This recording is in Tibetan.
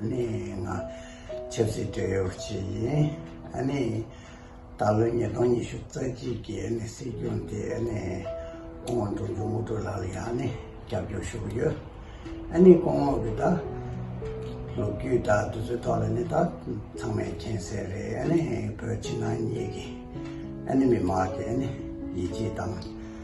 ནི་ང་ཆབ་སྲིད་འབྲེལ་ཡོད་པ་ཞིག་ཡིན། ནི་ད་ལོའི་ཉིས་སྟོང་ཉི་ཤུ་རྩ་གཅིག་གི་ནི་སྲིད་སྐྱོང་དེ་ནི་སྐུ་ངོ་འབྲོང་ཆུང་དམུ་གྲུ་ལགས་ལ་ཡང་ནི་རྒྱབ་སྐྱོར་ཞུ་གི་ཡོད། ནི་སྐུ་ངོ་གི་ད་ལོ་རྒྱུས་ད་དུས་ཚོད་ཐོག་ལ་ནི་ད་ཚང་མའི་མཁྱེན་གསལ་རེད། ནི་བོད་ཕྱི་ནང་གཉིས་ཀྱི་ནི་མི་དམངས་ཀྱི་ནི་ཡིད་ཆེས་དང།